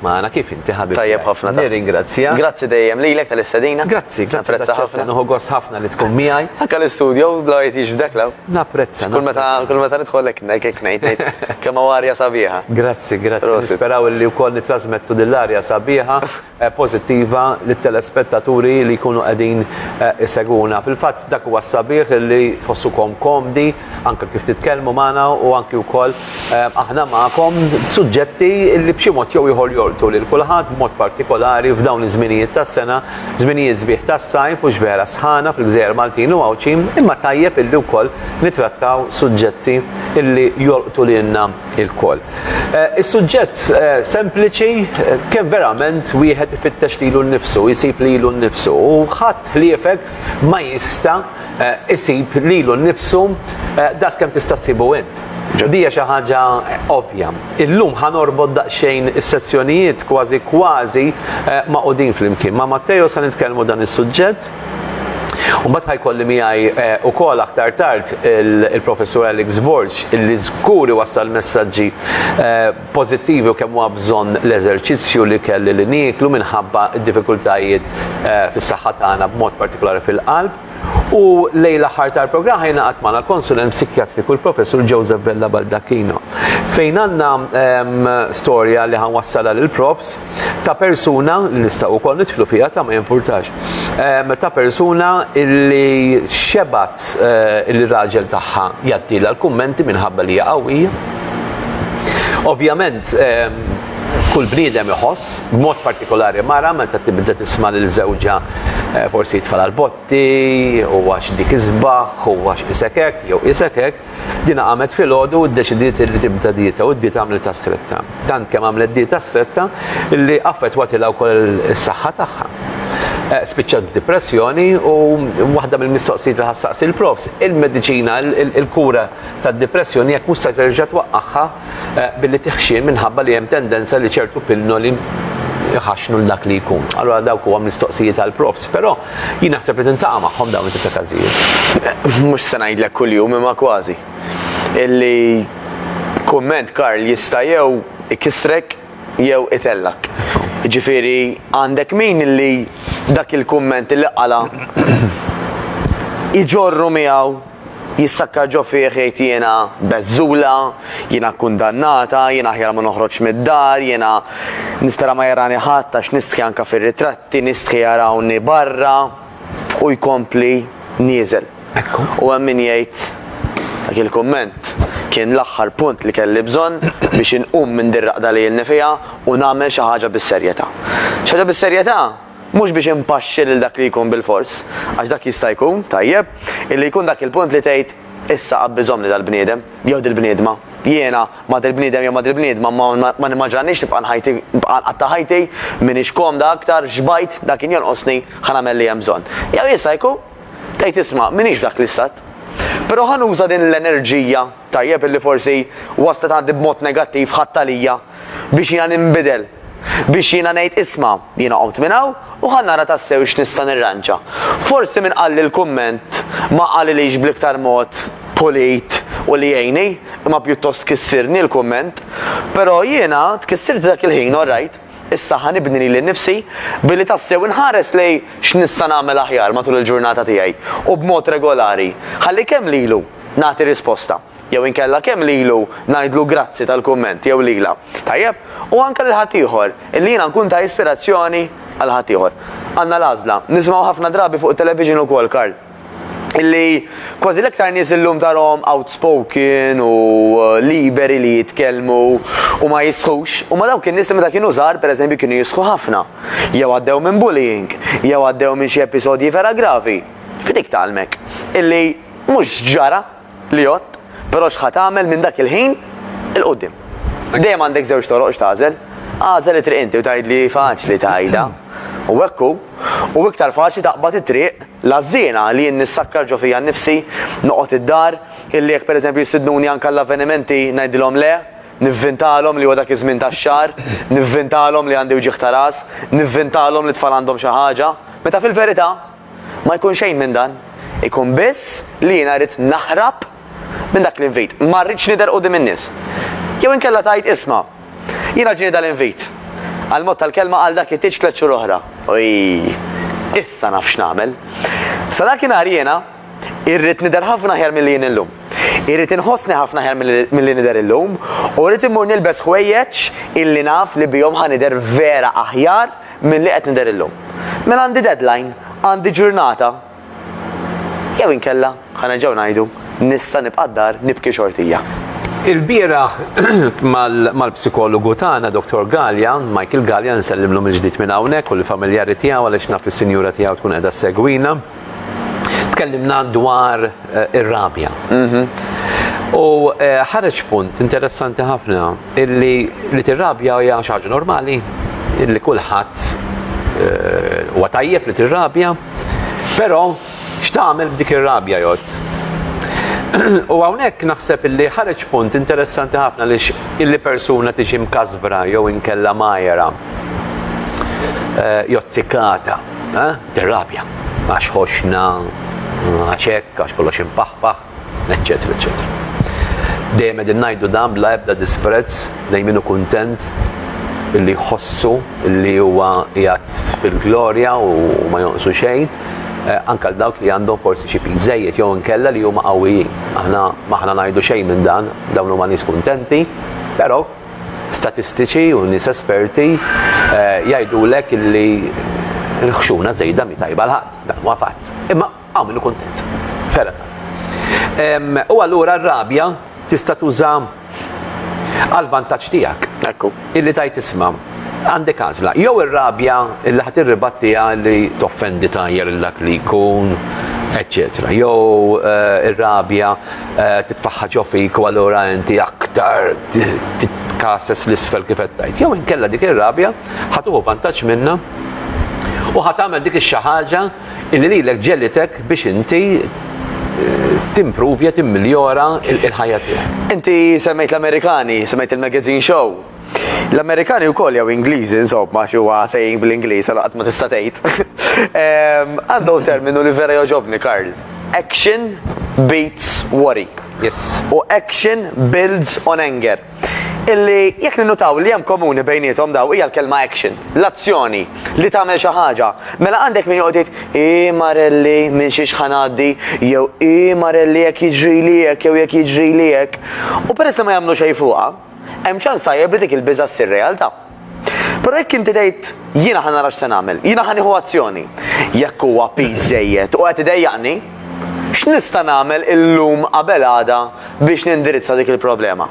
Maħna kif inti ħabib. Tajjeb ħafna. Nirringrazzja. Grazzi dejjem lilek tal-istedina. Grazzi, grazzi. Napprezza ħafna. Nuħu gost ħafna li tkun miegħi. Anka l-istudio bla jtix f'dek law. Napprezza. Kull meta kull meta nidħol hekk ngħid ngħid kemm arja sabiħa. Grazzi, grazzi. Nisperaw li wkoll nitrasmettu dil-arja sabiħa pożittiva lit-telespettaturi li jkunu qegħdin isegwuna. Fil-fatt dak huwa s-sabiħ li tħossukom komdi anke kif titkellmu magħna u anki wkoll aħna magħkom b'suġġetti li b'xi mod jew ieħor jolqtu lil kulħadd b'mod partikolari f'dawn iż-żminijiet tas-sena, żminijiet sbieħ tas-sajf u x'vera sħana fil-gżejjer Maltin u Għawdxin imma tajjeb illi wkoll nittrattaw suġġetti illi jolqtu lilna. ilkoll. Is-suġġett sempliċi kemm verament wieħed ifittex lilu nnifsu, jsib lilu nnifsu u ħadd ħliefek ma jista' jsib lilu nnifsu daqs kemm tista' ssibu int. Dija xi ħaġa ovvja. Illum ħa norbot daqsxejn is-sessjonijiet kważi kważi magħqudin flimkien. Ma' Matteo se nitkellmu dan is-suġġett. U mbagħad ħajkolli miegħi ukoll aktar tard il-Professur Alex Borg illi żgur iwassal messaġġi pożittivi u kemm huwa bżonn l-eżerċizzju li kelli li nieklu minħabba d-diffikultajiet fis-saħħa tagħna b'mod partikolari fil-qalb. U lejn l-aħħar tal-programm ħa jingħaqad magħna l-Konsulent Psikjatriku l-Professur Joseph Vella Baldacchino fejn għandna storja li ħa nwassalha lill-Profs. ta' persuna, li nistaw u koll nitħlu fija ta' ma jimpurtax, ehm, ta' persuna illi xebat eh, illi raġel taħħa jattila l-kummenti minħabba li jaqawija. Ovvjament, ehm, kull bniedem iħoss, b'mod partikolari mara meta tibda tisma' lil żewġa eh, forsi jitfal l-botti, u għax dik iżbaħ, u għax isekek, jew isekek, Dina qamet filgħodu u ddeċidiet li tibda dieta u d-dieta għamlitha stretta. Tant kemm għamlet dieta stretta li affettwatilha wkoll is-saħħa tagħha. Eh, spiċċat b'dipressjoni u waħda mill-mistoqsijiet li ħassaqsi l-profs, il-mediċina, il-kura tad-dipressjoni jekk mhux se terġa' twaqqagħha eh, billi tiħxi minħabba li hemm tendenza li ċertu pilloli jħaxnu l-dak li jkun. Allora dawk huwa mistoqsijiet għal profs, però Jien naħseb li tintaqa' magħhom dawn it-tip ta' każijiet. Mhux se ngħidlek kuljum imma kważi. Illi kumment Karl jista' jew ikissrek jew itellgħek. Jiġifieri għandek min illi dak il-kumment illi qala' iġorru miegħu Jissakka ġo fih jgħid jiena beżżula, jiena kkundannata, jiena aħjar ma noħroġx mid-dar, jiena nispera ma jarani ħadd għax nistħi anke fir-ritratti, nistħi jarawni barra u jkompli nieżel. U hemm min jgħid dak il-kumment kien l-aħħar punt li kelli bżonn biex inqum minn dir-raqda li ilni fiha u nagħmel xi ħaġa bis-serjetà. Xi ħaġa bis-serjetà? Mhux biex impaxxi lil dak li jkun bilfors, għax dak jista' jkun, tajjeb, illi jkun dak il-punt li tgħid, Issa qabbiżhomli dal-bniedem, jew dil-bniedma. Jiena, ma' dil-bniedem jew ma' dil-bniedma, ma nimmaġinanix nibqa' nħajti, nibqa' nqatta' ħajti, m'iniex komda aktar, xbajt, dak kien jonqosni, ħa nagħmel li hemm bżonn. Jew jista' jkun, tgħid isma', m'iniex f'dak l-istat. Però ħa nuża din l-enerġija, tajjeb, illi forsi waslet għandi b'mod negattiv, ħadt għalija. biex jiena ninbidel, biex jiena ngħid isma', jiena qomt minn hawn u ħa nara tassew x'nista' nirranġa. Forsi min qalli l-kumment ma qalilix bl-iktar mod pulit u li jgħinni, imma pjuttost kissirni l-kumment. Però jiena tkissirt dak il-ħin, orrajt, issa ħa nibni lili nnifsi billi tassew inħares lejn x'nista' nagħmel aħjar matul il-ġurnata tiegħi u b'mod regolari, ħalli kemm lilu nagħti risposta. jew inkella kemm lilu ngħidlu grazzi tal-kumment jew lilha, tajjeb, u anke lil ħaddieħor, illi jiena nkun ta' ispirazzjoni għal ħaddieħor. Għandna l-għażla. Nisimgħu ħafna drabi fuq it-television ukoll, Karl, illi kważi l-iktar nies illum tarahom outspoken u liberi li jitkellmu u ma jistħux, huma dawk in-nies li meta kienu żgħar, pereżempju, kienu jistħu ħafna, jew għaddew minn bullying, jew għaddew minn xi episodji vera gravi, f'dik tgħallmek illi mhux ġara. li għodt, però x'ħa tagħmel minn dak il-ħin 'il quddiem? Dejjem għandek żewġ toroq x'tagħżel. Agħżel it-triq inti u tgħidli faċli tgħidha. U hekk hu. U iktar faċli taqbad it-triq l-għażżiena li jien nissakkar ġo fija nnifsi, noqgħod id-dar, illi jekk pereżempju jistidnuni anke għall-avvenimenti ngħidilhom le, nivvintalhom li huwa dak iż-żmien tax-xahar, nivvintalhom li għandi wġigħ ta' ras, nivvintalhom li t-tfal għandhom xi ħaġa, meta fil-verità, Ma jkun xejn minn dan. Ikun biss li jiena rrid naħrab minn dak l-invit. Ma rridx nidher quddiem in-nies. Jew inkella tgħid, isma', jiena ġieni dal-invit. Għall-mod tal-kelma għal dak it-tieġ tliet xhur oħra. Oj! Issa naf x'nagħmel. Sa dak in-nhar jiena rrid nidher ħafna aħjar milli jien illum. Irrid inħossni ħafna aħjar milli nidher illum u rrid immur nilbes ħwejjeġ illi naf li bihom ħa nidher vera aħjar milli qed nidher illum. Mela għandi deadline, għandi ġurnata. Jew inkella, ħa nerġgħu ngħidu, nista' nibqa' d-dar nibki xortija. Il-bieraħ mal-psikologu tagħna Dr. Gallia, Michael Gallia, nsellimlu mill-ġdid minn hawnhekk u l-familjari tiegħu għaliex naf is-sinjura tiegħu tkun qiegħda segwina. Tkellimna dwar eh, ir-rabja. Mhm. U eh, ħareġ punt interessanti ħafna illi li tirrabja hija xi ħaġa normali illi kulħadd eh, huwa tajjeb li tirrabja, però x'tagħmel b'dik ir-rabja jgħod? U hawnhekk naħseb illi ħareġ punt interessanti ħafna li illi persuna tiġi mkasbra jew inkella majera eh, jozzikata. Eh? Tirrabja għax ħoxna, għax hekk, għax kollox impaħpaħ, eċċetera, eċċetera. Dejjem qegħdin ngħidu dan bla ebda disprezz lejn min hu kuntent li jħossu li huwa jgħat fil-glorja u ma jonqsu xejn, eh, anka dawk li għandhom forsi xi żejjed jew inkella li huma qawwijin. Aħna maħna ngħidu xejn minn dan, dawn huma nies kuntenti, però Statistiċi u nies esperti jgħidulek illi l-ħxuna żejda mhi tajba għal ħadd, dan huwa fatt. Imma hawn min hu kuntent. Fair enough. U allura r-rabja tista' tuża għal vantaġġ tiegħek. Ekku. Illi tajt isma' għandek għażla. Jew ir-rabja illi ħadd irribattiha li toffendi tajjar il-dak li jkun, eċċetera. Jew ir-rabja titfaħħa ġo fik u allura inti aktar titkases l-isfel kif qed tgħid. Jew inkella dik ir-rabja ħatuħu vantaġġ minna u ħat tagħmel dik ix-xi ħaġa li lilek ġelitek biex inti eh, timprovja, timmiljora il-ħajja tiegħek. Inti semmejt l-Amerikani, semmejt il-magazine show, L-Amerikani wkoll jew Ingliżi insomma xi huwa saying bl-Ingliż għal qatt ma tista' tgħid. Għandhom terminu li vera jogħġobni Karl. Action beats worry. Yes. U action builds on anger. Illi jekk ninnutaw li hemm komuni bejniethom daw hija l-kelma action, l-azzjoni li tagħmel xi ħaġa. Mela għandek min joqgħod jgħid i marelli minn xiex ħanaddi jew i marelli jekk jiġri li hekk jew jekk jiġri li hekk. U peress li ma jagħmlu xejn fuqha, hemm ċans tajjeb li dik il-biża' ssir realtà. Però jekk inti tgħid jiena ħa nara x'se nagħmel, jiena ħa nieħu azzjoni. Jekk huwa piż żejjed u qed idejjaqni, x'nista' nagħmel illum qabel għada biex nindirizza dik il-problema?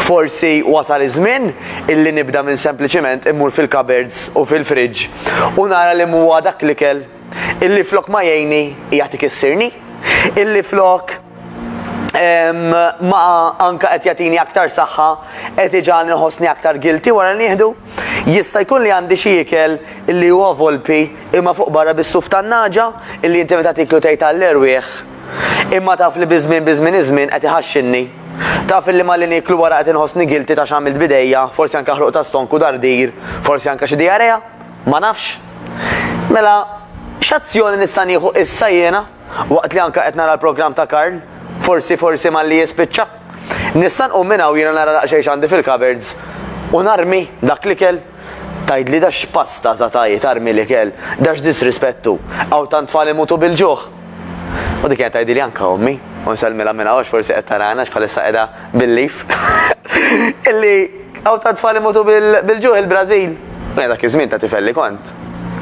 Forsi wasal iż-żmien illi nibda minn sempliċiment immur fil-cupboards u fil-fridge u nara li m'huwa dak l-ikel illi flok ma jgħinni qiegħed ikissirni, illi flok ma anka qed jagħtini aktar saħħa qed iġal nħossni aktar guilty wara nieħdu. Jista' jkun li għandi xi ikel li huwa volpi imma fuq barra bis-suf tan-naġa illi inti meta tiklu tgħid għall-erwieħ. Imma taf li biżmien biżmien iż-żmien qed iħaxxinni. Taf li ma li niklu wara qed inħossni guilty ta' x'għamilt bidejja, forsi anke ħruq ta' stonku dardir, forsi anke xi diarea. Ma nafx. Mela, x'azzjoni nista' nieħu issa jiena, waqt li anke qed nara l-programm ta' Karl, forsi, forsi malli jispiċċa? Nista' nqum minn hawn jiena nara daqsxejn x'għandi fil-cupboards u narmi dak l-ikel? Tgħidli da x'pasta sa taji tarmi l-ikel, da x'disrispett hu, hawn tant tfal imutu bil-ġuħ! U dik qed tgħidili anke ommi, u nsellmilha minn hawn forsi qed tarana x'bħalissa qiegħda bil-lif. Illi hawn ta' tfal imutu bil-ġuħ il-Brażil. Mela dak iż-żmien ta' tifel li kont,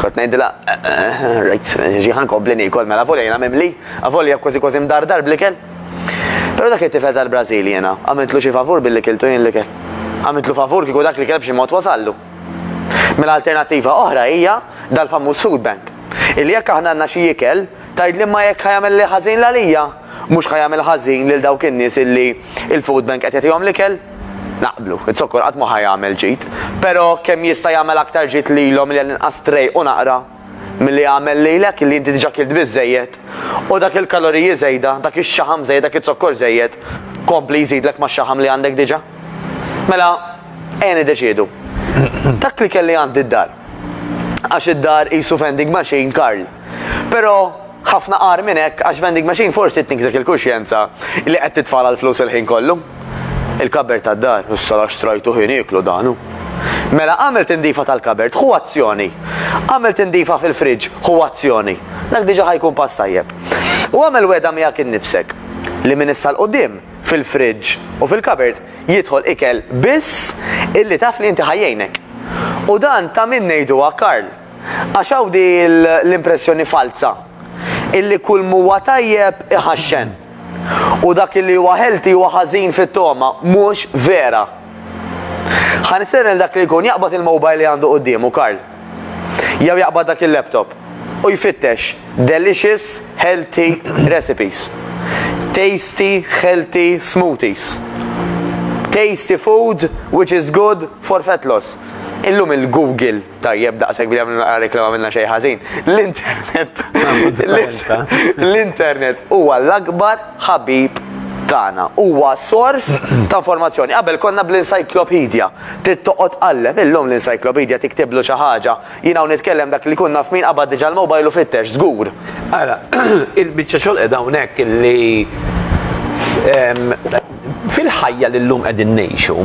kont ngħidilha, eh, eh, rajt, ġi ħankompli niekol mela volja jiena mimli, avolja kważi kważi mdardar bl-ikel. Però dak it-tifel tal-Brażil jiena, għamiltlu xi favur billi kiltu jien l-ikel. Għamiltlu favur kieku dak li kelb xi mod wasallu. Mela alternattiva oħra hija dal-famuż food bank. Illi jekk aħna għandna xi ikel, tgħidli ma jekk ħajamel li ħażin l-għalija, mhux ħajamel ħażin lil dawk in-nies illi il-food bank qed jagħtihom l-ikel? Naqblu, it-zokkor qatt ma ħajamel ġid, però kemm jista' jagħmel aktar ġid lilhom li għal-inqas tray u naqra? milli għamel lilek illi inti diġà kilt biżżejjed u dak il-kaloriji żejda, dak ix-xaħam żejjed, dak iz-zokkor żejjed kompli jżidlek max-xaħam li għandek diġà? Mela, ejja niddeċiedu. Dak li kelli għandi d-dar. Għax id-dar qisu vending machine Karl. Però Ħafna agħar minn hekk għax vending machine forsi tnikżek il-kuxjenza li qed titfagħalha l-flus il-ħin kollu. Il-kabert tad-dar, issa la xtrajtu ħin ieklu dan hu. Mela għamel tindifa tal-kabert hu azzjoni. Għamel tindifa fil-friġġ hu azzjoni. Dak diġà ħajkun pass tajjeb. U għamel weda miegħek innifsek li minn issa l-qudiem fil-friġġ u fil-kabert jidħol ikel biss illi taf li inti ħajjejnek. U dan ta' min ngħiduha Karl. Għax hawn di l-impressjoni falza illi kull m'huwa tajjeb iħaxxen u dak illi huwa healthy huwa ħażin fit-togħma, mhux vera. Ħa nistieden lil dak li jkun jaqbad il-mobile li għandu quddiemu, Karl. Jew jaqbad dak il-laptop. U jfittex delicious healthy recipes. Tasty healthy smoothies. Tasty food which is good for fat loss. Illum il-Google Tajjeb, daqshekk bidem nagħmlu naqra reklama minna xejn ħażin. L-internet. L-internet huwa l-akbar ħabib tagħna. Huwa sors ta' informazzjoni. Qabel konna bl-encyclopedia. Tittoqgħod qallem illum l-encyclopedia tiktiblu xi ħaġa. Jien hawn nitkellem dak li kunna f'min qabad diġà l-mobile u fittex żgur. Ara, il-biċċa xogħol qed hawnhekk li Fil-ħajja li llum qegħdin ngħixu,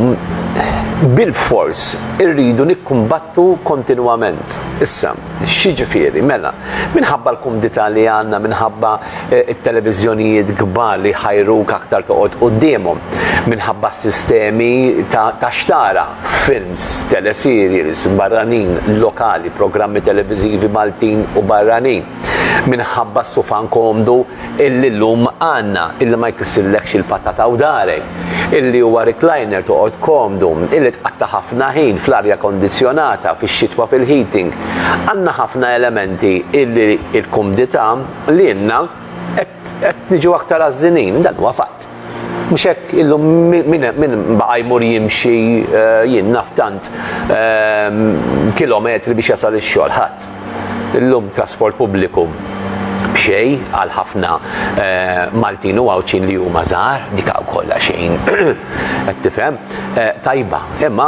bilfors irridu nikkumbattu kontinwament. Issa, x'jiġifieri? Mela, minħabba l-kumdità li għandna, minħabba t-televiżjonijiet kbar li jħajruk aktar toqgħod quddiemhom, minħabba s-sistemi ta' x'tara, films, teleserials, barranin, lokali, programmi televiżivi Maltin u barranin, minħabba s-sufan komdu, illi llum għandna, illi ma jkissirlekx il-patata u darek, illi huwa recliner toqgħod komdu, illi tqatta' ħafna ħin fl-arja kondizzjonata, fix-xitwa fil-heating. Għandna ħafna elementi illi l-kumdità lilna qed niġu aktar għażżinin, dan huwa fatt. Mhux hekk illum min baqa' jmur jimxi jien naf tant kilometri biex jasal ix-xogħol ħadd. Illum trasport pubbliku b'xejn għal ħafna Maltin u Għawdxin li huma żgħar, dik hawn kollha xejn qed tifhem, tajba. Imma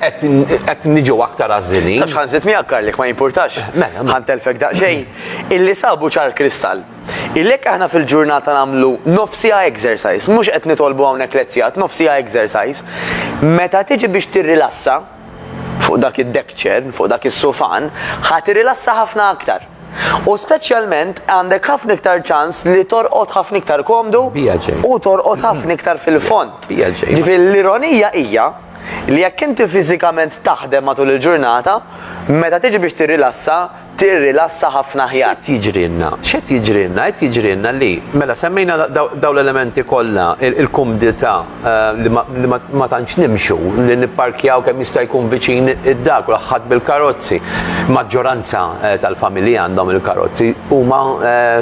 qed niġu aktar għażżilin. Tafx ħa nżid miegħek Karl jekk ma jimpurtax. Mela. Ħa ntellfek daqsxejn. Illi sabu ċar kristall. Ilhekk aħna fil-ġurnata nagħmlu nofsiha exercise, mhux qed nitolbu hawnhekk lezzjat, nofsiha exercise. Meta tiġi biex tirrilassa fuq dak id-deck chair, fuq dak is-sufan, ħa tirrilassa ħafna aktar. U speċjalment għandek ħafna iktar ċans li torqod ħafna iktar komdu u torqod ħafna iktar fil-fond. Ġifieri l-ironija hija li jekk inti fiżikament taħdem matul il-ġurnata, meta tiġi biex tirrilassa, tirrilassa ħafna aħjar. X'qed jiġrilna? X'qed jiġrilna? Qed jiġrilna li mela semmejna daw l-elementi kollha, il-kumdità li ma tantx nimxu, li nipparkjaw kemm jista' jkun viċin id-dar, kulħadd bil-karozzi. Maġġoranza tal-familji għandhom il-karozzi, huma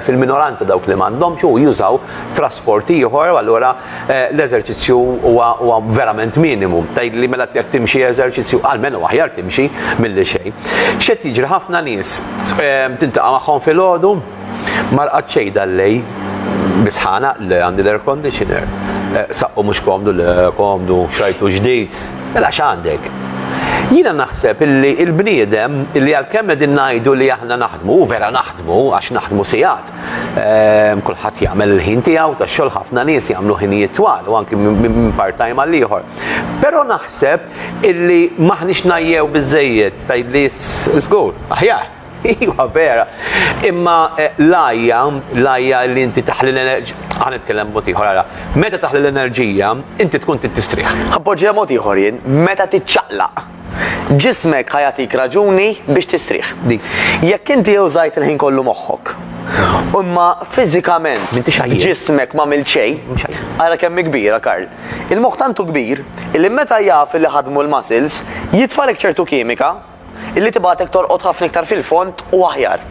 fil-minoranza dawk li m'għandhomx u jużaw trasport ieħor u allura l-eżerċizzju huwa huwa verament minimu. Tgħidli mela jekk timxi eżerċizzju għalmenu aħjar timxi milli xejn. X'qed jiġri ħafna nies eh, tintaqa' magħhom filgħodu ma rqad xejn dal-lej bisħana li għandi l-air conditioner. Eh, saqqu mhux komdu le komdu xajtu ġdid. Mela x'għandek? Jiena naħseb illi il-bniedem illi għalkemm qegħdin ngħidu li aħna naħdmu, vera naħdmu għax naħdmu sigħat, Ehm, kulħadd jagħmel il-ħin tiegħu ta' xogħol ħafna nies jagħmlu ħinijiet twal u anki minn part-time għal ieħor. Però naħseb illi maħniex najjew biżejjed tgħidli żgur, aħjar. Iwa vera. Imma eh, lajja, lajja li inti taħli l-enerġija, għan itkellem mod ieħor għara. Meta taħli l-enerġija, inti tkun titristrih. Appoġġja mod ieħor jien, meta tiċċaqlaq. Ġismek ħa jagħtik raġuni biex tistrieħ. Dik. Jekk inti użajt il-ħin kollu moħħok, imma fiżikament M'intix għajjien. ġismek ma għamilt xejn, Mhux għajjien. ara kemm hi kbira, Karl. Il-moħħ tant hu kbir illi meta jaf illi ħadmu l-muscles, jitfalek ċertu kimika illi tibgħatek torqod ħafna iktar fil-fond u aħjar.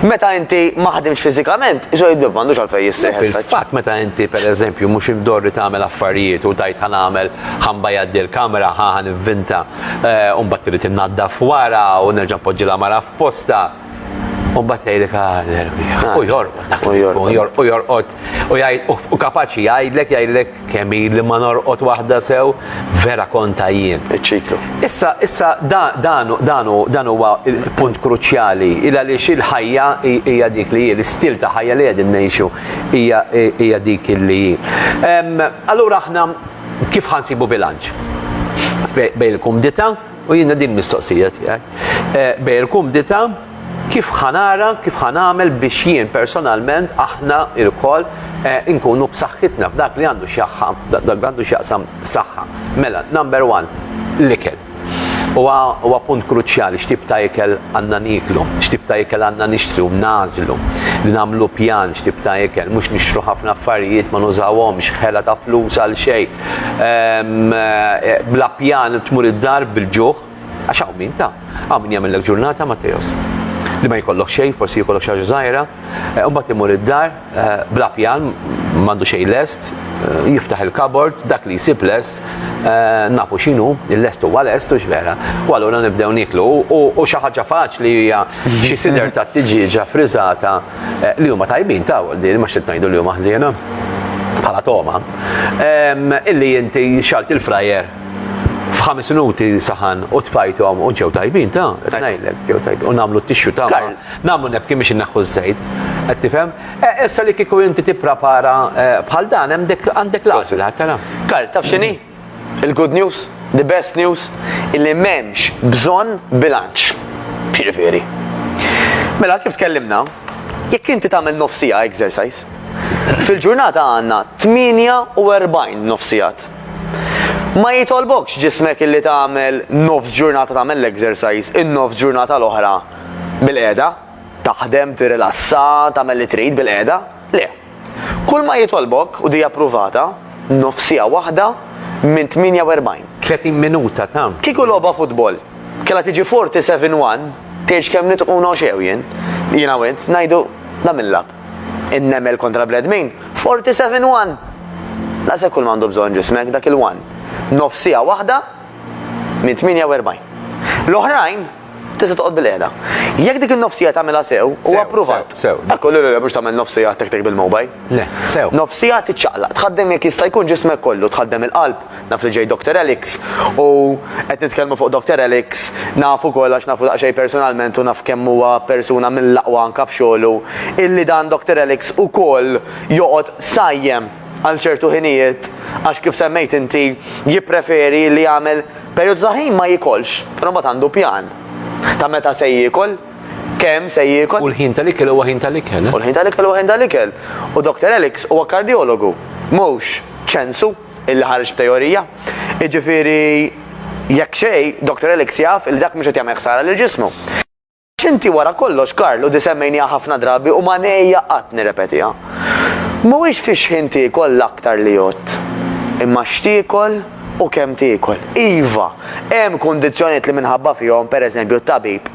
Meta inti ma ħdimx fiżikament, iso jiddu m'għandux għalfejn jistrieħ issa. Fatt meta inti pereżempju mhux imdorri tagħmel affarijiet u tajt ħa nagħmel ħa nbajjaddi l-kamra, ħa ħa nivvinta, eh, u mbagħad trid innaddaf wara u nerġa' npoġġi l-għamara f'postha. U mbagħad jgħidlek ah, l-erbi. Ah. U jorqod dak u jorqod u jorqod u jgħid u kapaċi jgħidlek jgħidlek Kemm ili ma norqod waħda sew, vera kont għajjien. Iċ-ċiklu. Issa, issa dan huwa punt kruċjali, il għaliex il-ħajja hija dik li hi, l-istil ta' ħajja li qegħdin ngħixu hija dik li hi. Allura aħna kif ħansibu bilanċ? Bejn il-kumdità U jiena din mistoqsija tiegħek. Eh, bej il-kumdita kif ħanara, kif ħanamel biex jien personalment aħna il-kol eh, inkunu b'saħħitna f'dak li għandu xjaħħa, dak għandu xjaqsam saħħa. Mela, number one, l-ikel. Huwa punt kruċjali x'tib ta' ikel għandna niklu, x'tib ta' ikel għandna nixtru, nażlu, li nagħmlu pjan x'tib ta' ikel, mhux nixtru ħafna affarijiet ma nużawhomx, ħela ta' flus għal xejn, bla pjan tmur id-dar bil-ġuħ, għax hawn min ta, hawn min jagħmellek ġurnata Matteos. Li ma jkollok xejn, forsi jkollok xi ħaġa żgħira, eh, mbagħad imur id-dar eh, bla pjan m'għandu xejn lest, eh, jiftaħ il-kabord, dak li jsib lest, nafu x'inhu, il-lest huwa lest u x'vera. U allura nibdew niklu u xi ħaġa faċli hija xi sider ta' tiġiġa friżata Eh, li huma tajbin ta' din ma xi tgħidu li huma ħżiena bħala toma. Illi inti xalt il-frajer f'ħames minuti saħan u tfajthom u ġew tajbin ta' tnajlek ġew tajbin u nagħmlu t-tixxu ta' nagħmlu nebki biex inneħħu ż-żejt. Qed tifhem? E, issa li kieku inti tipprepara e, bħal dan hemm għandek l-għażla tara. Karl taf x'inhi? Il-good news, the best news, illi m'hemmx bżonn bilanċ. Jiġifieri. Mela kif tkellimna, jekk inti tagħmel nofsija exercise, fil-ġurnata għandna 48 nofsijat. Ma jitolbokx ġismek illi tagħmel nofs ġurnata tagħmel l-exercise, in-nofs ġurnata l-oħra bil-qiegħda, taħdem, tirrilassa, tagħmel li trid bil-qiegħda. Le. Kulma jitolbok u dija pruvata, nofsiha waħda minn 48. 30 minuta ta'. Kieku logħba futbol kellha tiġi 47 one, tgħidx kemm nitquna u x'għew jien, jiena u int, ngħidu dan mil-lab. In-nemel kontra bnedmin, 47 one! Daqshekk kulma għandu bżonn ġismek, dak il-one. Nofsiha waħda minn 48. L-oħrajn. Tista' toqgħod bil-qiegħda. Jekk dik in-nofsija tagħmilha sew, huwa appruvat. Sew. Ekku lil mhux tagħmel nofsija tek tek bil-mobile. Le, sew. Nofsija tiċċaqlaq, tħaddem jekk jista' jkun ġismek kollu, tħaddem il-qalb, naf li ġej Dr. Alex u qed nitkellmu fuq Dr. Alex, naf ukoll għax nafu daqsxejn personalment u naf kemm huwa persuna mill-aqwa anke f'xogħlu, illi dan Dr. Alex ukoll joqgħod sajjem għal ċertu ħinijiet għax kif semmejt inti jippreferi li jagħmel Perjodu ta' ħin ma jiekolx, però mbagħad għandu pjan ta' meta se jiekol, kemm se jiekol. U l-ħin tal-ikel huwa ħin tal-ikel, eh? U l-ħin tal-ikel huwa ħin tal-ikel. U Doctor Alex huwa kardjologu, mhux ċensu illi ħareġ b'teorija. Jiġifieri, jekk xejn, Doctor Alex jaf illi dak mhux qed jagħmel ħsara lil ġismu. X'inti wara kollox, Karl, u di semmejniha ħafna drabi u ma ngħejja qatt nirrepetiha. Mhuwiex fi x'ħin tiekol l-aktar li jgħodd, imma x'tiekol u kemm tiekol. Iva, hemm kundizzjonijiet li minħabba fihom, pereżempju, t-tabib,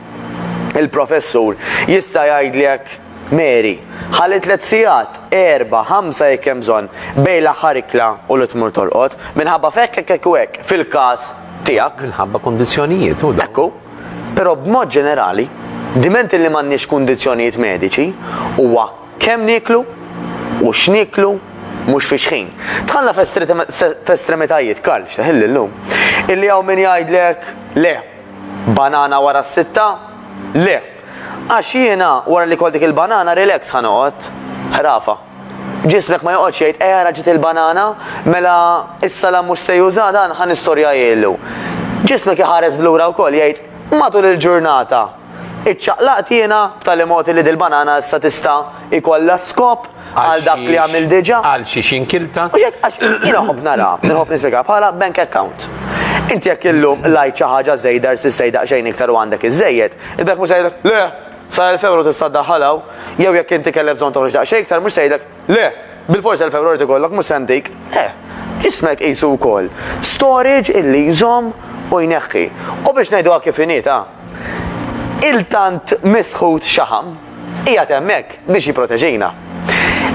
il-professur, jista' jgħidlek, Mary, ħalli tliet sigħat, erbgħa, ħamsa jekk hemm bżonn, bejn l-aħħar ikla u li tmur torqod, minħabba f'hekk, hekk, hekk u hekk, fil-każ tiegħek. Minħabba kundizzjonijiet, hu dak. Ekku. Però b'mod ġenerali, diment li m'għandniex kundizzjonijiet mediċi, huwa kemm nieklu u x'nieklu mhux fix-xħin. Dħalna f'estremitajiet, Karl, x'teħilli llum, illi hawn min jgħidlek le, banana wara s-sitta? Le! Għax jiena wara li kol dik il-banana relax ħa noqgħod ħrafa. Ġismek ma joqgħodx jgħid eh ara ġiet il-banana, mela is-salam mhux se juża dan ħa nistorja jgħidu. Ġismek iħares blura wkoll jgħid matul il-ġurnata iċċaqlaqt jiena b'tali mod li dil-banana issa tista' ikollha skop għal dak li għamil diġà. Għal xi xinkilta. U xek għax jiena ħobb nara, nħobb nispjega bħala bank account. Inti jekk illum lajt xi ħaġa żejda rsi sejda xejn iktar u għandek iżejjed, il-bank mhux le, Sa elf ewro tista' ddaħħal hawn, jew jekk inti kellek bżonn toħroġ daqsxejn iktar mhux se jgħidlek, le! Bilfors elf ewro jrid ikollok mhux se ntik. Eh! Ismek qisu wkoll storage illi jżomm u jneħħi. U biex ngħiduha kif inhi ta', il-tant misħut xaħam qiegħed hemmhekk biex jipproteġina.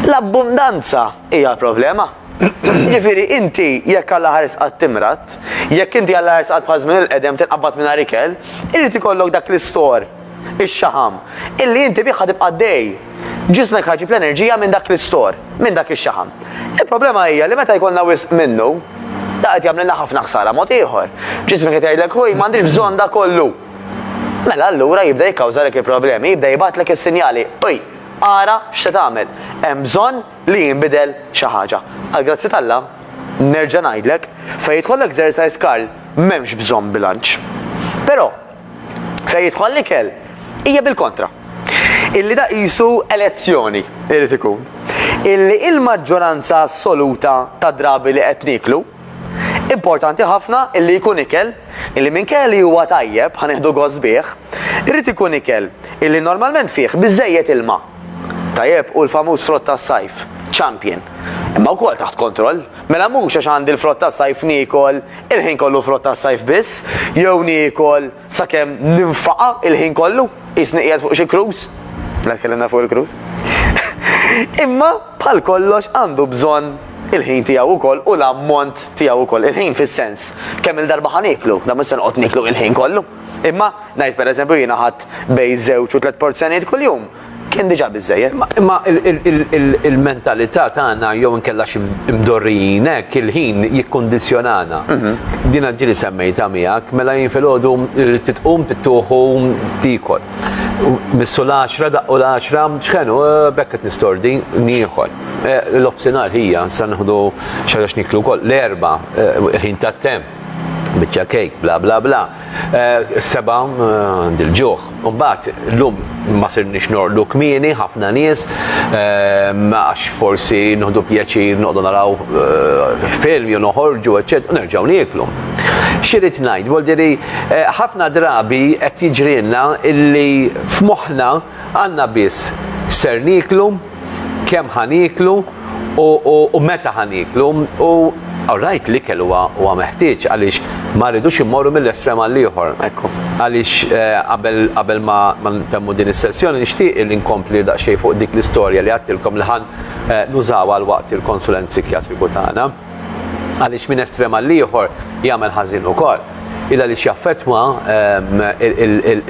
L-abbundanza hija l-problema. Jiġifieri inti jekk għal aħar isqat timrad, jekk inti għal aħar isqat bħal żmien il-qedem tinqabad mingħajr ikel, irid ikollok dak l-istor ix-xaħam, illi inti bih ħa tibqa' għaddej. Ġismek ħa jġib l-enerġija minn dak l-istor, minn dak ix-xaħam. Il-problema hija li meta jkollna wisq minnu, da qed jagħmlilna ħafna ħsara mod ieħor. Ġismek qed jgħidlek ħuj m'għandix bżonn da kollu. Mela allura jibda jikkawżalek il-problemi, jibda jibgħatlek is-sinjali, uj, ara x'se tagħmel. Hemm bżonn li jinbidel xi ħaġa. Għal grazzi tal-la, nerġa' ngħidlek, fejn jidħollek exercise Karl, m'hemmx bżonn bilanċ. Però, fejn jidħol l-ikel hija bil-kontra. Illi da qisu elezzjoni irid ikun. Illi il-maġġoranza assoluta ta' drabi li qed niklu importanti ħafna illi jkun ikel illi minn kelli huwa tajjeb ħaneħdu gost bih, irid ikun ikel illi normalment fih biżejjed ilma. Tajjeb u l-famuż frott tas-sajf, champion. Imma wkoll taħt kontroll, mela mhux għax għandi l-frott tas-sajf niekol Il-ħin kollu frott tas-sajf biss, jew niekol sakemm ninfaqa' il-ħin kollu, qisni qiegħed fuq xi cruise. La tkellimna fuq il-cruise. Imma bħal kollox għandu bżonn il-ħin tiegħu wkoll u l-ammont tiegħu wkoll. Il-ħin fis-sens kemm il-darba ħa nieklu, da mhux se noqgħod nieklu il-ħin kollu. Imma ngħid pereżempju jiena ħadd bejn żewġ u tliet porzjonijiet kuljum. kien diġà biżżejjed, imma il-mentalità tagħna jew inkella xi mdorrijin hekk il-ħin jikkundizzjonana. Mhm. Din ġieli semmejta miegħek, mela jien filgħodu rrid titqum tittuħu tikol. Missu l-10 daqqu l-10 ċħenu eh, bekk qed nistordi nieħol. Eh, l-ofsinhar ħija sa nieħdu xi niklu wkoll l-erba' eh, ħin tat-temp. biċċa kejk, bla bla bla. Eh, seba għandi l-ġuħ. Mbagħad llum ma sirniex norqdu kmieni ħafna nies eh, għax forsi noħdu pjaċir noqdu naraw eh, film jew noħorġu eċċetera nerġgħu nieklu. Xirid ngħid, voldiri ħafna drabi qed jiġrilna illi f'moħħna għandna biss ser niklu kemm ħa nieklu u meta ħa nieklu u Alright, l-ikel huwa meħtieġ għaliex ma rridux immorru mill-estrem għal ieħor. Ekku. Għaliex eh, qabel ma ntemmu din is-sessjoni nixtieq li nkompli daqsxejn fuq dik l-istorja li għattilkom li ħan eh, nużaw għal waqt il-konsulent psikjatriku tagħna. għaliex minn estrem għal ieħor jagħmel ħażin ukoll. Il għaliex jaffettwa ehm,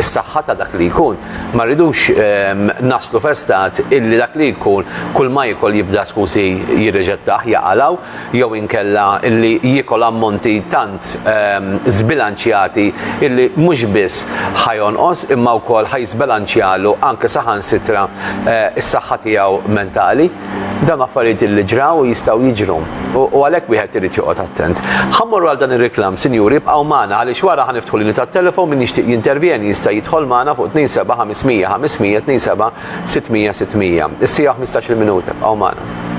is-saħħa ta' dak li jkun. Ma rridux ehm, naslu festat illi dak li jkun kull ma jikol jibda skusi jirreġettaħ jaqalaw jew inkella illi jikol ammonti tant ehm, zbilanċjati illi mhux biss ħajonqos imma wkoll ħajżbilanċjalu anke saħansitra eh, is-saħħa tiegħu mentali. Dawn affarijiet illi ġraw u jistgħu jiġru, u għalhekk wieħed irid joqgħod attent. Ħa mmorru għal dan ir-reklam, sinjuri, ibqgħu magħna għaliex wara ħa niftħu linji tat-telefon min jixtieq jintervjeni jista' jidħol magħna fuq 27 500 500 27 600 600. Is-siegħa u ħmistax-il minuta, ibqgħu magħna.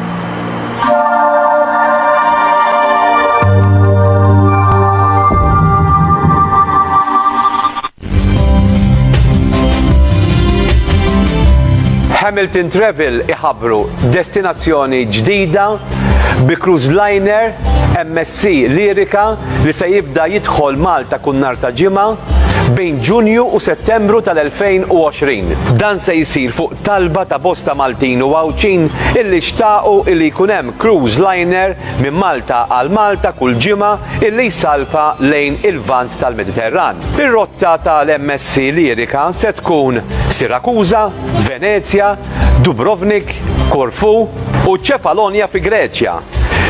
Hamilton Travel iħabru destinazzjoni ġdida bi cruise liner MSC Lirika li se jibda jidħol Malta kun nar ta' ġimgħa bejn Ġunju u Settembru tal-2020. Dan se jsir fuq talba ta' bosta Maltin u Għawdxin illi xtaqu illi jkun hemm cruise liner minn Malta għal Malta kull ġimgħa illi jsalpa lejn il-Lvant tal-Mediterran. Ir-rotta tal-MSC Lyrica se tkun Sirakuża, Venezja, Dubrovnik, Korfu u Ċefalonja fi Greċja.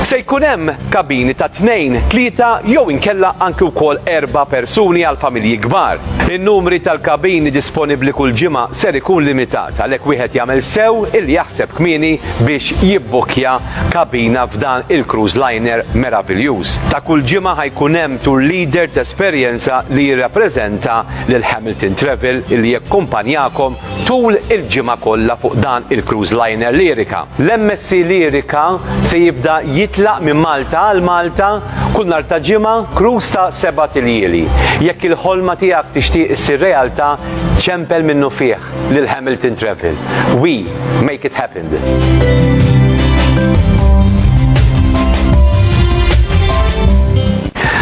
Se jkun hemm kabini ta' tnejn, tlieta jew inkella anki wkoll erba' persuni għal familji kbar. In-numri tal-kabini disponibbli kull ġimgħa ser ikun limitat għalhekk wieħed jagħmel sew illi jaħseb kmieni biex jibbukkja kabina f'dan il-cruise liner meraviljuż. Ta' kull ġimgħa ħa jkun hemm tour leader t'esperjenza li jirrappreżenta lil Hamilton Travel li jakkumpanjakom tul il-ġimgħa kollha fuq dan il-cruise liner Lyrica. L-MSC Lyrica se jibda jitlaq minn Malta għal Malta kull nhar ta' ġimgħa, cruise ta' sebat iljieli. Jekk il-ħolma tiegħek tixtieq issir realtà, ċempel minnufih. lil Hamilton Travel. We make it happen.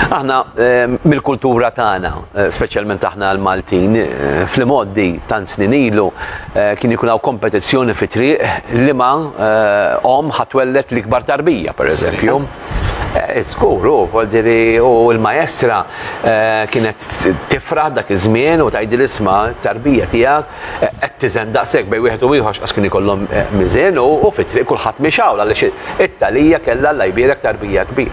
Aħna ehm, mill-kultura tagħna, eh, speċjalment aħna l-Maltin, eh, fl-imoddi tant snin ilu eh, kien ikun hawn kompetizzjoni fi triq li ma om ħatwellet l-ikbar tarbija, pereżempju. Skur, u voldiri u l-maestra eh, kienet tifraħ dak iż-żmien u tajdi l-isma tarbija tiegħek eh, qed tiżen daqshekk bej wieħed u ieħor għax kien ikollhom eh, miżin u fit-triq kulħadd mixawl għaliex it-talija kellha l jbierek tarbija kbir.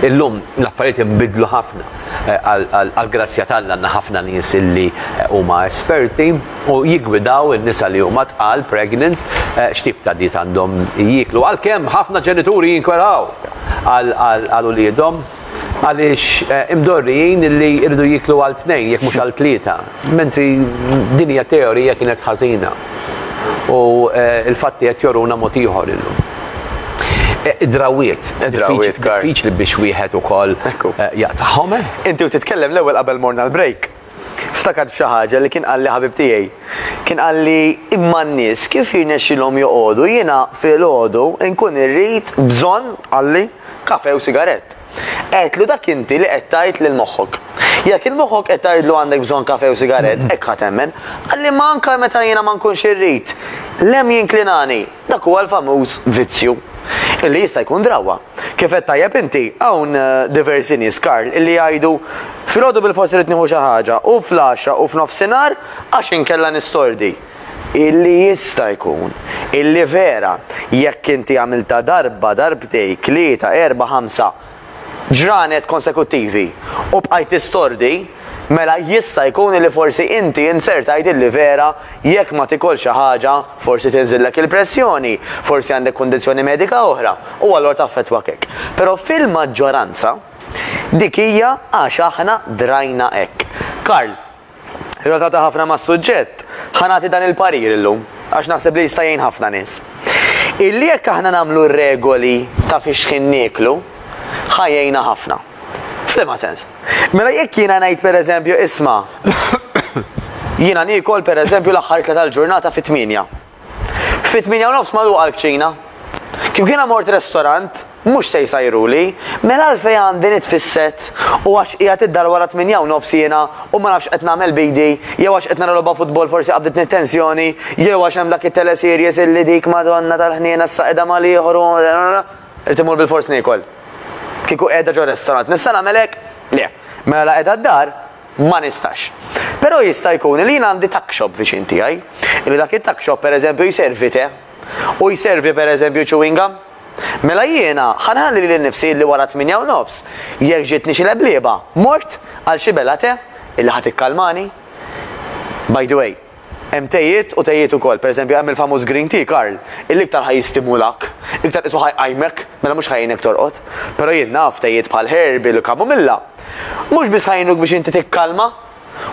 Illum l-affarijiet inbidlu ħafna għal-grazzja tal-għanna ħafna nies illi huma esperti u jiggwidaw in-nisa li huma tqal, pregnant, eh, x'tip ta' diet għandhom jieklu. Għalkemm ħafna ġenituri jinkweraw għal uliedhom għaliex eh, imdorrijin li jridu jieklu għal tnejn jekk mhux għal tlieta. Menzi din hija teorija kienet ħażina. U eh, l-fatti qed joruna mod ieħor illum. Drawiet, drawiet, diffiċli biex wieħed ukoll jaqtahom. Inti u titkellem l-ewwel qabel morna l-break. Ftakart f'xi ħaġa li kien qalli ħabib tiegħi. Kien qalli imma n-nies kif jirnexxilhom joqogħdu, jiena filgħodu nkun irrid bżonn, qalli, kafè u sigarett. Għedtlu dak inti li qed tgħid lil moħħok. Jekk il moħħok qed tgħidlu għandek bżonn kafè u sigarett, hekk ħa temmen. Qalli imma anke meta jiena ma nkunx irrid, l-hemm jinklinani. Dak huwa l-famuż vizzju. Illi jista' jkun drawwa. Kif għedt tajjeb inti, hawn diversi nies, Karl, illi jgħidu, Filgħodu bilfors irrid nieħu xi ħaġa, u fl-għaxra u f'nofsinhar, għax inkella nistordi. Illi jista' jkun, illi vera, jekk inti għamiltha darba, darbtejk, tlieta, erbgħa, ħamsa, ġranet konsekuttivi, u bqajt tistordi, Mela jista' jkun li forsi inti inzertajt illi vera jekk ma tikolx xi ħaġa forsi tinżillek il-pressjoni, forsi għandek kundizzjoni medika oħra u allura taffettwak hekk. Però fil-maġġoranza dik hija għax aħna drajna hekk. Karl, relatata ħafna mas-suġġett, ħa nagħti dan il-parir illum għax naħseb li jista' jgħin ħafna nies. Illi jekk aħna nagħmlu regoli ta' fix-xħin nieklu, ħa jgħinna ħafna. Flima sens. Mela jekk jiena ngħid pereżempju isma' jiena nikol pereżempju l-aħħar ikla tal-ġurnata fit-tminja. Fit-tminja u nofs magħluqa l-kċina. Kif jiena mort restorant, mhux se jsajruli, mela għalfejn għandi nitfisset u għax qiegħed id-dar wara tminja u nofs jiena u ma nafx qed nagħmel bidi, jew għax qed nara logħba futbol forsi qabditni tensjoni, jew għax hemm dak it-teleseries illi dik Madonna tal-ħniena s-saqeda mal-ieħor Irid immur bilfors niekol. Kieku qiegħda ġo restorant nista' nagħmel hekk? Le. Mela la qiegħda d-dar ma nistax. Però jista' jkun li jien għandi tuck shop viċin tiegħi, li dak it-tuck shop pereżempju jservi te u jservi pereżempju chewing gum. Mela jiena ħa nħalli lili nnifsi li wara t-tmienja u nofs jekk ġietni xi leblieba mort għal xi bela te illi ħa tikkalmani. By the way, Hemm tejiet u tejiet ukoll. Pereżempju, hemm il-famuż green tea, Karl, illi iktar ħa jistimulak, iktar qisu ħa jqajmek, mela mhux ħa jgħinek torqod. Però jien naf tejiet bħal herbal u chamomilla, mhux biss ħa jgħinuk biex inti tikkalma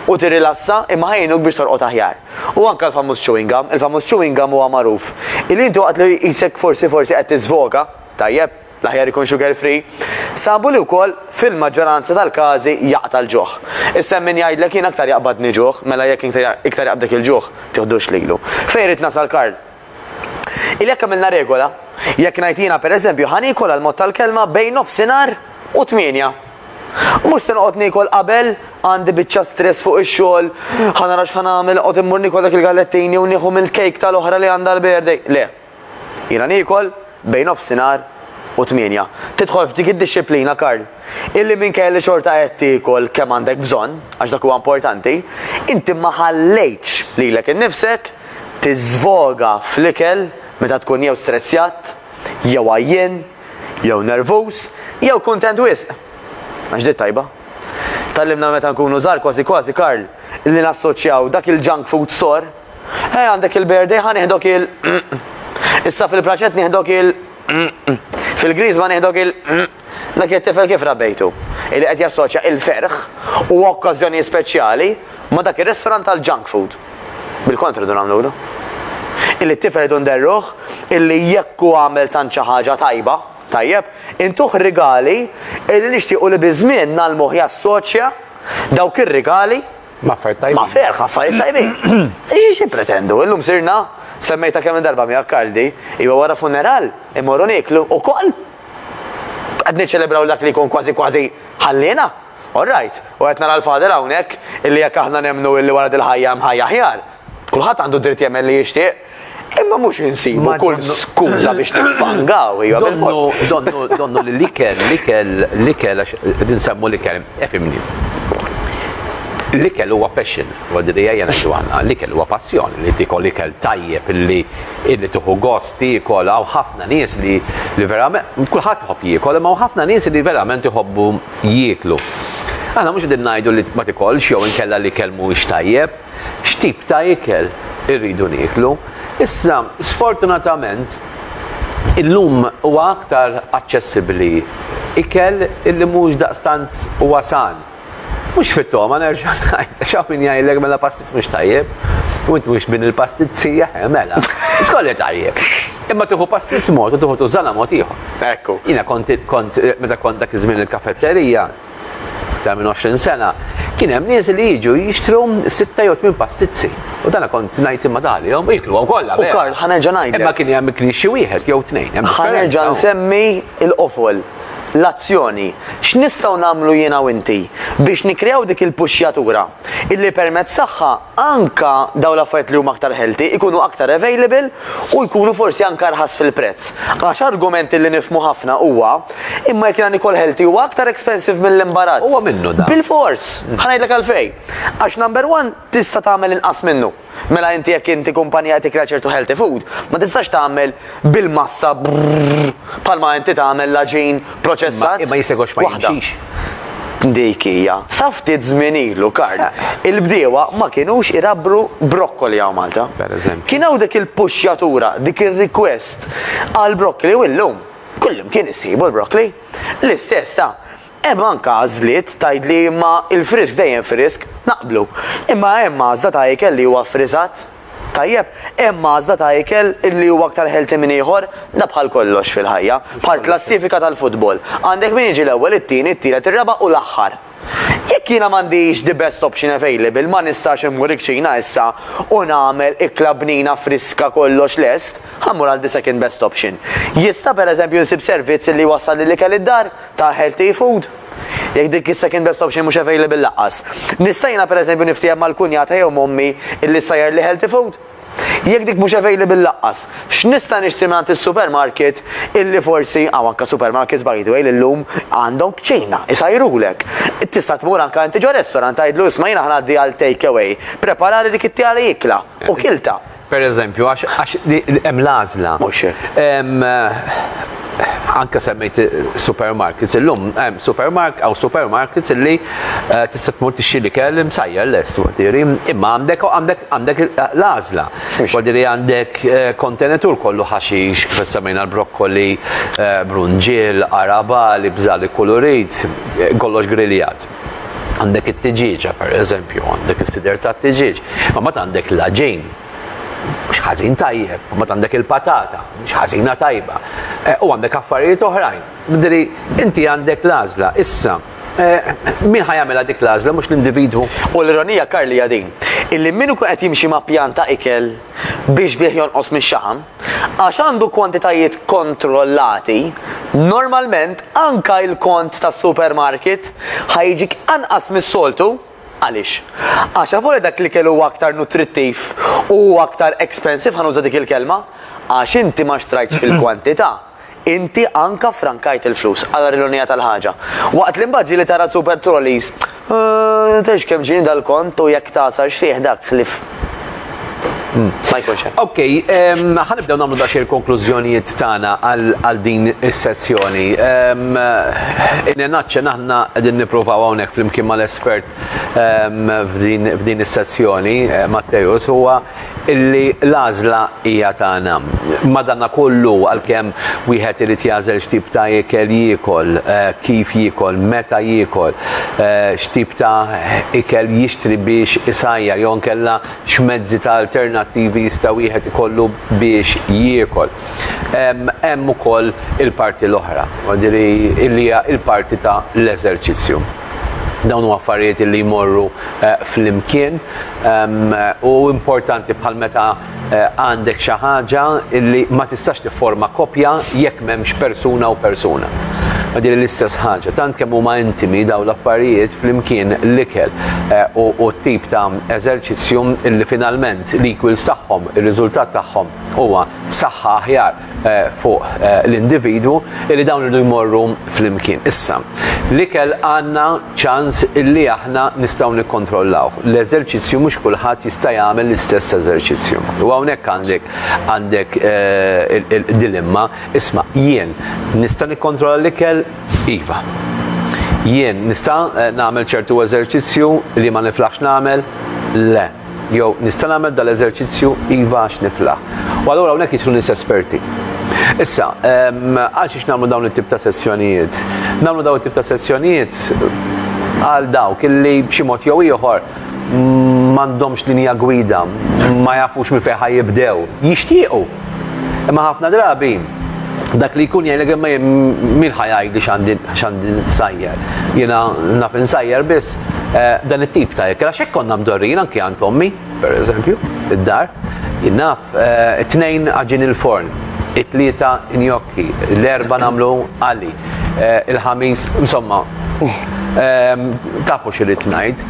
u tirrilassa, imma ħa jgħinuk biex torqod aħjar. U anke l-famuż chewing gum, il-famuż chewing gum huwa magħruf, illi inti waqt li jqisek forsi forsi qed tiżvoga, tajjeb, L-aħjar ikun sugar free. Sabu li wkoll fil-maġġoranza tal-każi jaqta' l-ġuħ. Issa hemm min jgħidlek jien aktar jaqbadni ġuħ, mela jekk iktar jaqbdek il-ġuħ, tiħdux lilu. Fejn rrid nasal Karl? Illi jekk għamilna regola, jekk ngħid jiena per eżempju ħa niekol għal mod tal-kelma bejn nofsinhar u tmienja. Mhux se noqgħod niekol qabel, għandi biċċa stress fuq ix-xogħol, ħa nara x'ħa nagħmel, noqgħod immur niekol dak il-gallettini u nieħu mill-cake tal-oħra li għandha l-birthday. Le. Jiena niekol bejn nofsinhar u tmienja. Tidħol f'dik id-dixxiplina, Karl, illi minkejja li xorta qed tiekol kemm għandek bżonn, għax dak huwa importanti, inti ma ħallejtx lilek innifsek tiżvoga fl-ikel meta tkun jew strezzjat, jew għajjien, jew nervuż, jew kuntent wisq. Għax di t-tajba. Tgħallimna meta nkunu żgħar kważi kważi, Karl, li nassoċjaw dak il-junk food store Eh, għandek il-berde, ħan iħdok il. Issa fil-braċet nieħdok il. Fil-griż ma nieħdok il. Dak it-tifel kif rabbejtu? Illi qed jassoċja il-ferħ u okkażjoni speċjali ma dak ir-restaurant tal-junk food. Bil-kontra dun għamlu Illi t-tifel dun derruħ, illi jekku għamel tanċa ħaġa tajba, tajjeb, intuħ rigali illi nixtiequ li bizmin nal-moħ jassoċja dawk ir-rigali Maffert tajbin. Maffert, maffert tajbin. Iġi xie pretendu, illum sirna, semmejta kemm darba mi akkaldi, iwa wara funeral, imorru niklu, u koll. Għadni ċelebraw dak li kun kważi kważi ħallina. All right, u għetna nara l-fader hawnhekk illi jekk aħna nemnu illi wara dil-ħajja hemm ħajja ħjar. Kulħadd għandu dritt jemmen li jixtieq Imma mhux insibu kull skuża biex niffangaw, hija Donnu, donnu, donnu li l-ikel, l-ikel, l-ikel, għax din semmu l-ikel, efimni. L-ikel huwa passion, għoddi li jajja najdu għanna, l-ikel huwa passjoni li tikol ikel tajjeb li illi tuħu gost tikol għaw ħafna nies li li verament, kullħat hop jikol, ma ħafna nies li verament jħobbu jiklu. Għana mux din najdu li ma tikolx jew inkella li kelmu tajjeb, x'tip ta' ikel irridu nieklu. Issa, sfortunatament, illum huwa aktar aċċessibbli ikel illi mhux daqstant huwa san. Mhux fit-togħma nerġa' ngħid, għax hawn min jgħidlek mela pastis mhux tajjeb, u inti mhux min il-pastit sija, eh, mela, skolli tajjeb. Imma tieħu pastis mod u tieħu tużana mod ieħor. Ekku. Jiena kont meta kont dak iż-żmien il-kafetterija, Iktar minn 20 sena kien hemm nies li jiġu jixtru sitta jew tmien pastizzi. U dana kont ngħid imma dalihom u jiklu kollha. U Karl ħanerġa' ngħid. Imma kien hemm ikli xi wieħed jew tnejn. Ħanerġa' nsemmi l-qofol, l-azzjoni. X'nistgħu nagħmlu jiena u inti biex nikkreaw dik il-puxxjatura? illi permezz tagħha anke dawn l-affarijiet li huma aktar healthy ikunu aktar available u jkunu forsi anke arħas fil-prezz. Għax argument illi nifhmu ħafna huwa, imma jekk jiena nikol healthy huwa aktar expensive mill-imbarazz. Huwa minnu dan. Bilfors! Ħa ngħidlek għalfejn. Għax number one tista' tagħmel inqas minnu. Mela inti jekk inti kumpanija qed tikkrea ċertu healthy food, ma tistax tagħmel bil-massa bħalma inti tagħmel l-aġin proċessat. Imma jisegwax ma jimxix. Dik hija. Sa ftit żmien ilu, Karl, il-bdiewa ma kinux irabbru brokkoli hawn Malta. Pereżempju. Kien hawn dik il-puxxjatura, dik ir-request għall-brokkoli u illum kullimkien issibu l-brokkoli. L-istess sa Hemm anke għażliet, tgħidli, imma l-frisk dejjem frisk. Naqblu. Imma hemm għażla ta' ikel li huwa ffriżat? Tajjeb, hemm għażla ta' ikel li huwa aktar healthy minn ieħor? Da bħal kollox fil-ħajja, bħal klassifika tal-futbol. Għandek min jiġi l-ewwel, it-tieni, it-tielet, ir-raba' u l-aħħar. Jekk jiena m'għandix the best option available, ma nistax immur iċ-Ċina issa u nagħmel ikla bnina friska kollox lest, ħa mmur għal the second best option. Jista' pereżempju nsib servizz li jwassal l-ikel id-dar? ta' healthy food, jekk dik is-second best option mhux available laqqas. Nista' jiena pereżempju niftiehem mal-kunjata jew m'ommi illi ssajjar li healthy food? Jekk dik mhux available laqqas, x'nista' nixtri mingħand is-supermarket illi forsi, hawn anke supermarkets by the way li llum għandhom kċina, isajrulek. Tista' tmur anke inti ġo restaurant tgħidlu isma' jiena ħa ngħaddi għal take away, prepara li dik it-tiegħi ikla u kiltha. Per eżempju, għax hemm l-għażla. Mhux hekk. Anke semmejt supermarkets illum, hemm supermark għaw supermarkets illi eh, tista' tmur tixxi li kell imsajjar lest wadiri, imma għandek għandek għandek l-għażla. Wadiri għandek eh, kontenetur kollu ħaxix, kif semmejna l-brokkoli, eh, brunġiel, araba, li bżali kulurit, kollox griljat. Għandek it-tiġieġa, per eżempju, għandek is-sider ta' tiġieġ, ma mat għandek l-ġejn, mhux ħażin tajjeb, ma mat għandek il-patata, mhux ħażina tajba, eh, u għandek affarijiet oħrajn. Diri, inti għandek l-għażla, issa, eh, min ħajamela dik l-għażla, mhux l-individwu. U l-ironija Karli din, illi minn ikun qed jimxi ma' pjanta ikel, biex bih jonqos mix-xaħam, għax għandu kwantitajiet kontrollati, normalment anke l-kont tas-supermarket ħa jiġik anqas mis-soltu. Għaliex? Għax avolja dak l-ikel huwa aktar nutrittiv u huwa aktar expensive, ħa nuża dik il-kelma, għax inti ma xtrajtx fil-kwantità. Inti anka ffrankajt il-flus, għal ironija tal-ħaġa. Waqt li mbagħad ġieli tara Super Trollies, Eehh, tgħidx kemm ġieni dal-kont u jekk tagħsar x'fih dak ħlief ma jkunx hemm. Ok, ħa nibdew nagħmlu daqsxejn il-konklużjonijiet tagħna għal din is-sessjoni. In a nutshell aħna qegħdin nippruvaw hawnhekk flimkien mal-espert f'din is-sessjoni, Matteus, huwa illi l-għażla hija tagħna. Madankollu, għalkemm wieħed irid jagħżel x'tip ta' ikel jiekol, kif jiekol, meta jiekol, x'tip ta' ikel jixtri biex isajjar jew inkella x'mezzi ta' alternattivi jista' wieħed ikollu biex jiekol, hemm ukoll il-parti l-oħra, jiġifieri li hija l-parti ta' l-eżerċizzju. Dawn huma affarijiet illi jmorru flimkien u importanti bħal meta għandek xi ħaġa illi ma tistax tifforma koppja jekk m'hemmx persuna u persuna. Ma din l-istess ħaġa, tant kemm huma intimi dawn l-affarijiet flimkien l-ikel u t-tip ta' eżerċizzju illi finalment l-equals tagħhom, ir-riżultat tagħhom huwa saħħa aħjar fuq l-individwu li dawn irdu jmorru flimkien. Issa, l-ikel għandna ċans illi aħna nistgħu nikkontrollawh. L-eżerċizzju mhux kulħadd jista' jagħmel l-istess eżerċizzju. U hawnhekk għandek għandek dilemma, isma' jien nista' nikkontrolla l-ikel? Iva. Jien nista' nagħmel ċertu eżerċizzju li ma niflaħx nagħmel? Le. Jew, nista' nagħmel dan l-eżerċizzju iva għax niflaħ. U allura hawnhekk jidħlu nies esperti. Issa, ehm, għal xiex nagħmlu dawn it-tip ta' sessjonijiet? Nagħmlu dawn it-tip ta' sessjonijiet għal dawk illi b'xi mod jew ieħor m'għandhomx linja gwida, ma jafux minn fejn jibdew, jixtiequ Imma ħafna drabi dak li jkun jgħidlek imma min ħajgħidli x'għandi nsajjar. Jiena naf insajjar biss eh, dan it-tip ta' jekk għax hekk konna mdorrin anke għand ommi, pereżempju, id-dar. Jiena eh, it-tnejn għaġin il-forn, it-tlieta injok L-erba namlu għali. Eh, Il-ħamis, insomma, ehm, tafu xirrit najd.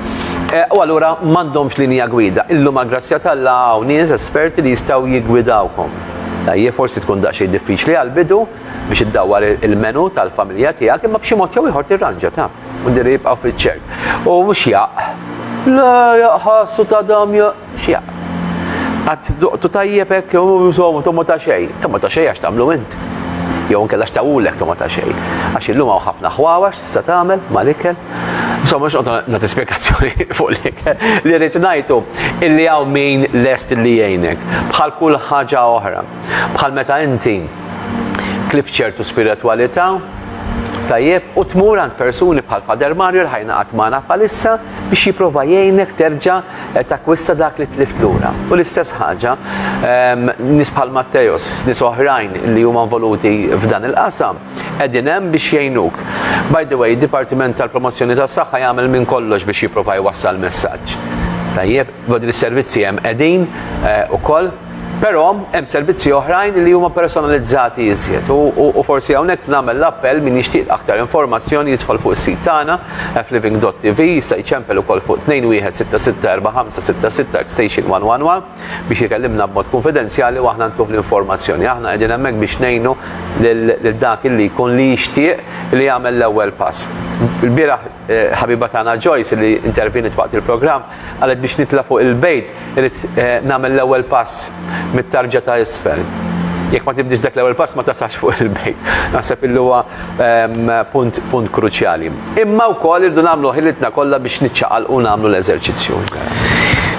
Eh, u għallura mandomx linja gwida. Illum għal grazzja tal-la għaw nies esperti li jistaw jigwidawkom. Tajje, forsi tkun daqxie diffiċli għal-bidu biex id-dawar il-menu tal-familja tijak, imma bxie mod jew iħor tirranġa ta' u diri jibqaw fil-ċert. U mux jaq. La jaqħassu ta' dam jaq. X'jaq. Qatt duqtu tajjeb hekk jew insomma togħmu ta' xejn. Togħmu ta' xejn għax tagħmlu int. Jew inkella x'tawulek togħmu ta' xejn. Għax illum hawn ħafna ħwawax tista' tagħmel mal-ikel. Insomma mhux noqgħod nagħti spjegazzjoni fuq l-ikel. Li rrid ngħidu illi hawn min lest li jgħinek. Bħal kull ħaġa oħra. Bħal meta inti tlift ċertu spiritwalità, tajjeb, u tmur għand persuni bħal Father Mario li ħa jingħaqad magħna bħalissa biex jipprova jgħinek terġa' Takkwista dak li tlift lura. U l-istess ħaġa nies bħal Matteos, nies oħrajn li huma involuti f'dan il-qasam qegħdin hemm biex jgħinuk. By the way, id-Dipartiment tal-Promozzjoni tas-Saħħa jagħmel minn kollox biex jipprova jwassal messaġġ tajjeb, u din is-servizzi hemm qegħdin ukoll. Però hemm servizzi oħrajn li huma personalizzati iżjed u forsi hawnhekk nagħmel l-appell min jixtieq aktar informazzjoni jidħol fuq is-sit tagħna fliving.tv jista' jċempel ukoll fuq 21664566 extension 111 biex ikellimna b'mod kunfidenzjali u aħna ntuh l-informazzjoni. Aħna qegħdin hemmhekk biex ngħinu lil dak li jkun li jixtieq li jagħmel l-ewwel pass. Il-bieraħ Ħabiba tagħna Joyce li intervjeniet waqt il-programm qalet biex nitla' fuq il-bejt irid nagħmel l-ewwel pass mit-tarġa ta' isfel. Jekk ma tibdiex dak l-ewwel pass ma tasalx fuq il-bejt. Naħseb illi huwa punt kruċjali. Imma wkoll irridu nagħmlu ħilitna kollha biex niċċaqalqu u nagħmlu l-eżerċizzju.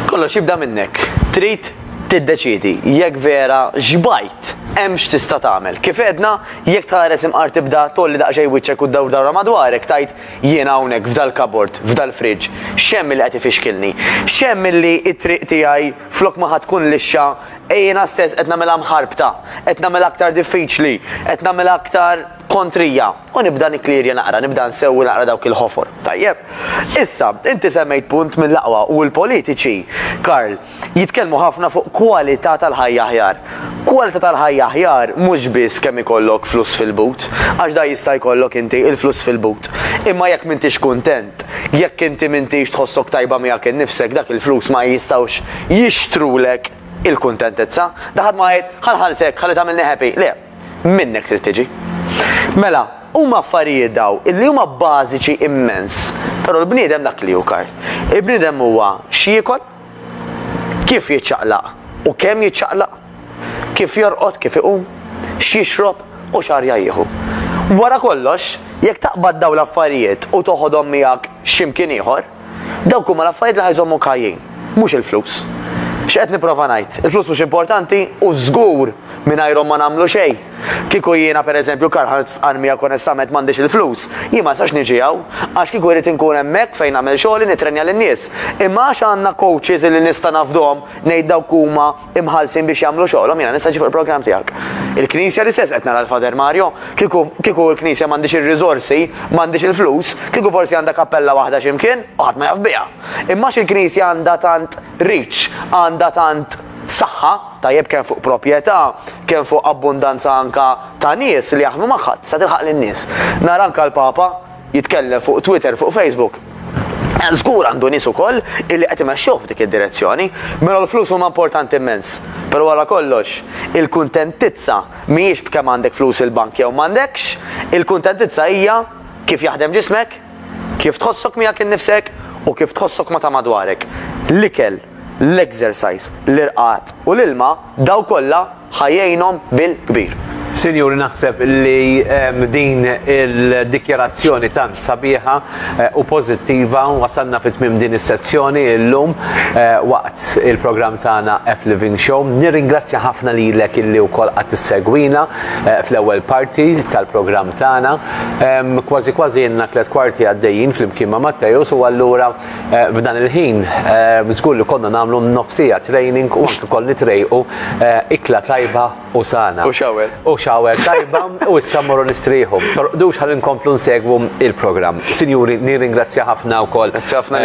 Kollox jibda minnek. Trid tiddeċiedi jekk vera xbajt, hemm x'tista' tagħmel. Kif għedna, Jekk tħares imqar tibda tgħolli daqsxejn wiċċek u ddawr dawra madwarek tgħid jiena hawnhekk f'dal-kabord, f'dal-fridge, x'hemm li qed ifixkilni? X'hemm illi t-triq tiegħi flok ma ħa tkun lixxa jiena stess qed nagħmilha mħarbta, qed nagħmilha aktar diffiċli, qed nagħmilha aktar kontrija? U nibda nikklierja naqra, nibda nsewwi naqra dawk il-ħofor. Tajjeb. Issa, inti semmejt punt mill-aqwa u l-politiċi, Karl, jitkellmu ħafna fuq kwalità tal-ħajja aħjar. Kwalità tal-ħajja aħjar mhux biss kemm ikollok flus fil-but, għax dan jista' jkollok inti, il-flus fil-but. Imma jekk m'intix kuntent, jekk inti m'intix tħossok tajba miegħek innifsek, dak il-flus ma jistgħux jixtrulek il-kuntentizza. Da ħadd ma jgħid, ħa nħallsek, ħalli tagħmilni happy. Le, minnek trid tiġi. Mela, huma affarijiet daw illi huma bażiċi immens, però l-bniedem dak li hu kar. Il-bniedem huwa x'jiekol, Kif jiċċaqlaq u kemm jiċċaqlaq, kif jorqod, kif iqum, x'jixrob u x'arja jieħu. Wara kollox, jekk taqbad dawn l-affarijiet u toħodhom miegħek x'imkien ieħor, dawk huma l-affarijiet li ħa jżommuk ħajjin, mhux il-flus. X'qed nipprova ngħid? Il-flus mhux importanti u żgur mingħajrhom ma nagħmlu xejn. Kieku jiena, per eżempju, Karl-Heinz Armia konestament m'għandix il-flus, jien ma nistax niġi hawn, għax kieku jrid inkun hemmhekk fejn nagħmel xogħli nittrenja lin-nies. Imma għax għandna coaches illi nista' nafdhom, ngħid dawk huma imħallsin biex jagħmlu xogħolhom, jiena nista' niġi fuq il-programm tiegħek. Il-Knisja l-istess qed nara l-Father Mario. Kieku, kieku l-Knisja m'għandhiex ir-riżorsi, m'għandhiex il-flus, kieku forsi għandha kappella waħda xi mkien u ħadd ma jaf biha. Imma għax il-Knisja għandha tant reach, għandha tant saħħa, tajjeb kemm fuq proprjetà, kemm fuq abbundanza anke ta' nies li jaħdmu magħha, tista' tilħaq lin-nies. Nara anke l-Papa jitkellem fuq Twitter, fuq Facebook. Żgur għandu nies ukoll illi qed imexxuh f'dik id-direzzjoni. Mela l-flus huma importanti immens, però wara kollox, il-kuntentizza mhijiex b'kemm għandek flus il-bank jew m'għandekx, il-kuntentizza hija kif jaħdem ġismek, kif tħossok miegħek innifsek u kif tħossok ma' ta' madwarek. L-ikel. l-exercise, l-irqad u l-ilma, dawn kollha ħa jgħinhom bil-kbir. Sinjuri naħseb li din il-dikjarazzjoni tant sabiħa eh, u pożittiva wasalna fit tmim din is-sezzjoni llum eh, waqt il-programm tagħna F Living Show. Nirringrazzja ħafna lilek illi wkoll qatt issegwina eh, fl-ewwel parti tal-programm tagħna. Kważi kważi jenna tliet kwarti għaddejjin flimkien ma' Mattejus u allura F'dan il-ħin, żgur li konna nagħmlu nofsija training u anke wkoll nitrejqu ikla tajba u sana. U shower. U shower tajba u issa mmorru nistrieħu. Torqdux ħalli nkomplu nsegwu il-programm. Sinjuri, nirringrazzja ħafna wkoll. Grazzi ħafna.